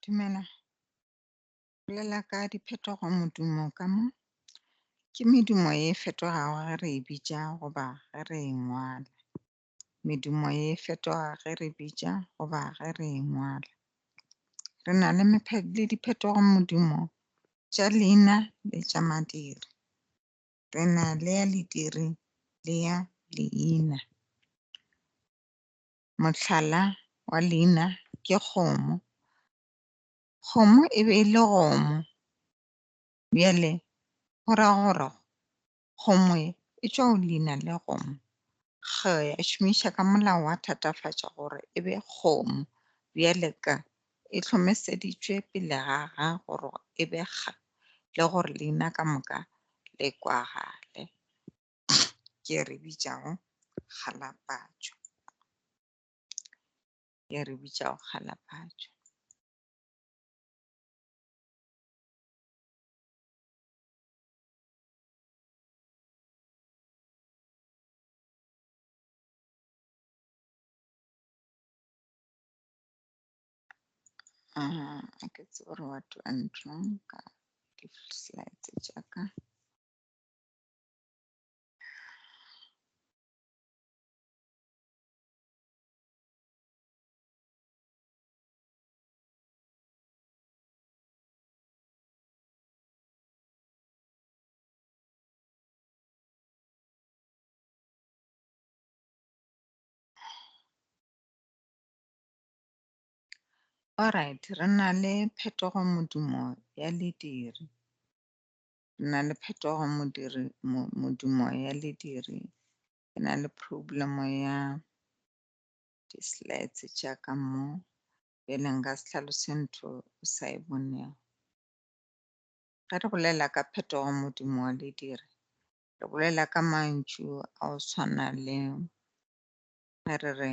Dumela. Bolela ka diphetogo modumo ka mo. Ke medumo e fetogago ge re e bitša goba ge re e ngwala. Medumo e fetoga ge re bitša goba ge re e ngwala. Re na le le diphetogo modumo tša leina le tša madiri. re na le ya lediri le ya leina. Mohlala wa leina ke kgomo. Kgomo e be e le gomo. Bjale go ra gore kgomo e tšwa go leina le kgomo. G ya šomiša ka molao wa thatafatša gore e be kgomo. Bjale K E hlomeseditšwe pele ga ga gore e be kga le gore leina ka moka le kwagale. Ke re bitšago kgalapatšo. Ke re bitšago kgalapatšo. Ah, a ke tsebe gore wa twa ntlong ka di-slides tša ka. Alright, re na le phetogo modumo ya lediri. Re na le phetogo modiri modumo ya lediri. Ke na le problem ya di-slides tša ka mo pele nka se tlhalose ntho o sa e bonego. Ge re bolela ka phetogo modumo wa lediri, re bolela ka mantšu a o tshwana le ge re re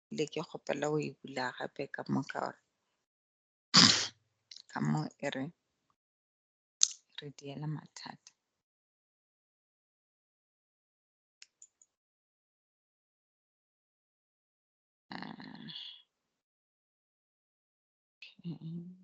le ke kgopela go e bula gape ka moka gore ka mo e re re diela mathata ah, okay.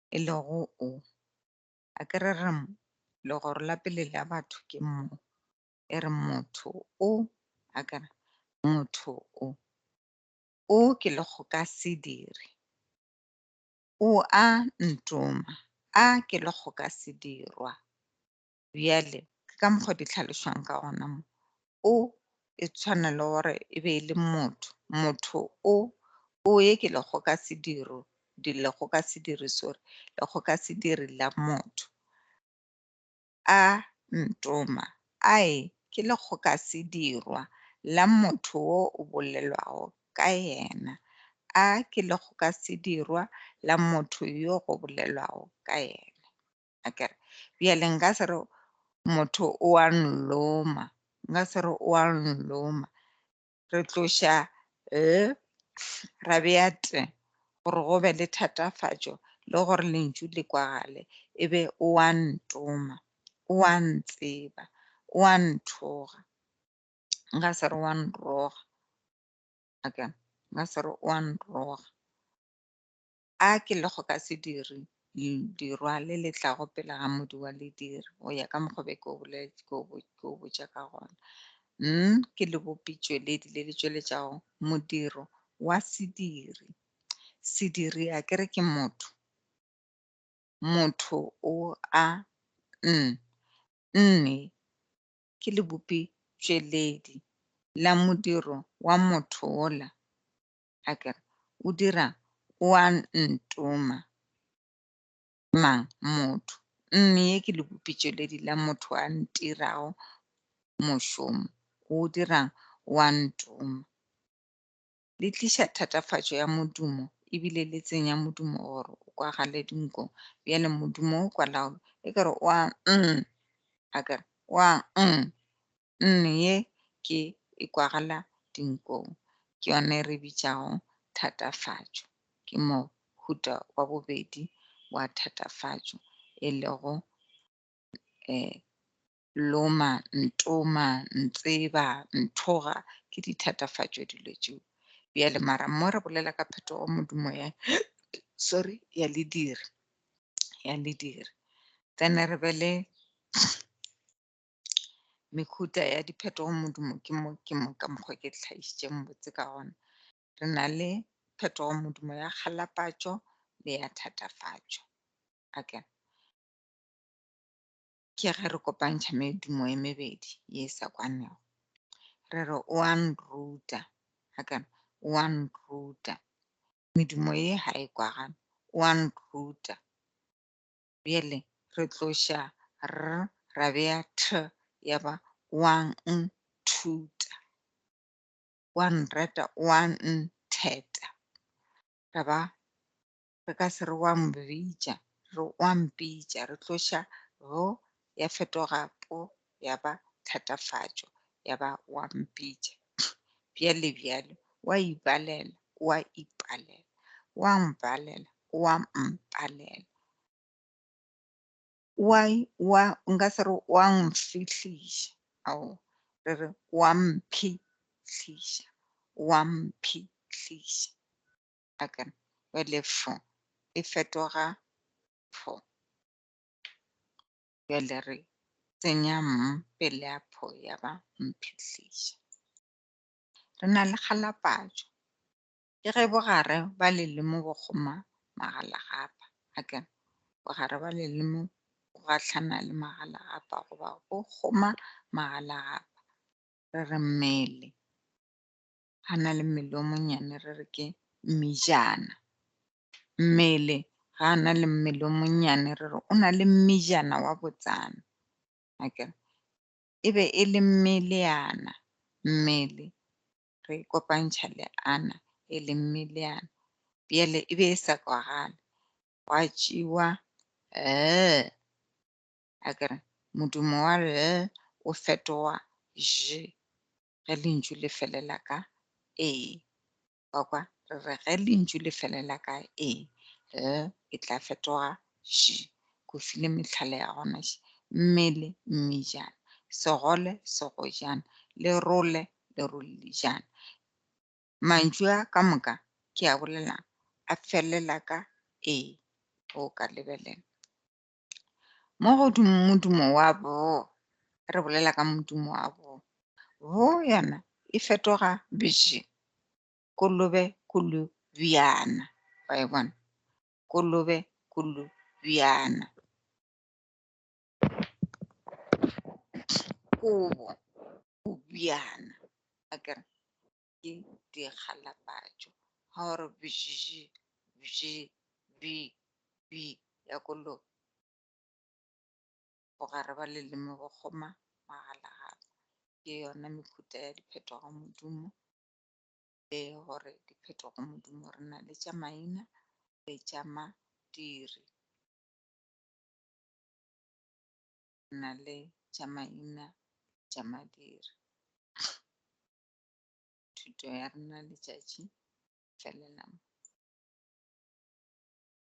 e lego O. A ke re re mo, legoro la pele la batho ke mo, e re motho o, a ke re, motho o. O ke lekgokasediri. O a ntoma. A ke lekgokasedirwa. Bjale, ke ka mokgwa di tlhalošwang ka gona mo. O e tshwana le gore e be e le motho. Motho o, o ye ke lego ka sediro, di lego ka sediri, sorry, lego ka sediri la motho. A ntoma, a e ke lego ka sedirwa la motho o o bolelwago ka yena. A ke lego ka sedirwa la motho yo go bolelwago ka yena. a kere bjale nka se re motho o a nloma nka se re o a nloma re tloša l ra bea t gore go be le thatafatšo le gore lentšu le kwagale e be o a ntoma o a ntseba o a nthoga nka se re o a nroga a kere nka se re o a nroga a ke le go ka se dire dirwa le le tlago pele ga modi wa lediri go ya ka mokgobe ke o botša ka gona n ke le bopitšweledi le le tšweletšago modiro wa sediri sediri a ke re ke motho motho o a n nne ke le bopitšweledi la modiro wa motho ola a ke re, O dira o a ntoma. Mang? Motho. Mme ye ke lebopitšweledi la motho a ntirago mošomo. O dirang? O a ntoma. Le tliša thatafatšo ya modumo ebile le tsenya modumo gore o kwagale dinkong. Bjale modumo o kwalaolo e ke re, O a nnn. A ke re, O a nnn. nne ye ke e kwagala dinkong, ke yona e re bitšago thatafatšo. Ke mohuta wa bobedi wa thatafatšo e lego eh, loma, ntoma, ntseba, nthoga, ke dithatafatšo dilo tšeo. Bjale mara mo re bolela ka phetogo modumo ya, sorry, ya lediri, ya lediri. Then re be le mehuta ya diphetogo modumo ke mo ke mo ka mokgwa ke tlhagišitseng botse ka gona re na le phetogo modumo ya kgalapatšo le ya thatafatšo aka ke ge re kopantšha medumo e mebedi ye e sa kwanego re re o a nruta aka o a nruta medumo ye ga e kwagane o a nruta Bjale re tloša r ra bea th ya ba o a nthuta, o a nrata, o a ntheta. Ra ba re ka se re o a mbitša, re o a mpitša. Re tloša go ya fetoga po ya ba thatafatšo, ya ba wa mpitša, bjale, bjale, wa ibalela, wa ipalela, wa mbalela, wa mpalela, wa, wa, nka se re wa nfihliša, ao, re re wa mphihliša, wa mphihliša. A ka re, bjale fo e fetoga pho. Bjale re tsenya mm pele a pho ya ba mphihliša. Re na le kgalapatšo. Ke ge bogare ba lelimo bo kgoma magalagapa, a ke re, bogare ba lelimo bo gahlana le magalagapa goba bo kgoma magalagapa. Re re mmele, a na le mmele o monnyane, re re ke mmijana. mmele ga a na le mmele o monnyane re re o na le mmejana wa botsana akere e be e le mmeleana mmele re e kopantšha le ana e le mmeleana bjale e be e sa kwagale gwa tšewa l akere modumo wa l o fetoga j ge lentšu le felela ka e Wa kwa? Re re ge lentšu le felela ka e, l e tla fetoga ž. Ke o file mehlala ya gona še, mmele, mmejana, segole, segojana, lerole, lerollijana. Mantšu a ka moka ke a bolelang a felela ka e. O ka lebelela. Mo go modumo wa bo, re bolela ka modumo wa bo. Bo yona e fetoga bije, kolobe, kulu, bjana. Wa e bona? Kolobe, kulu, bjana. Kobo, bjana. Akere? Ke dikgalabatšo ga o re bjiji bji bi bi ya ko lo bogare ba leleme go kgoma magalagala. Ke yona mehuta ya diphetogo modumo e gore diphetogo modumo re na le tša maina le tša madiri. Re na le tša maina tša madiri. thuto ya rena letšatši felelang.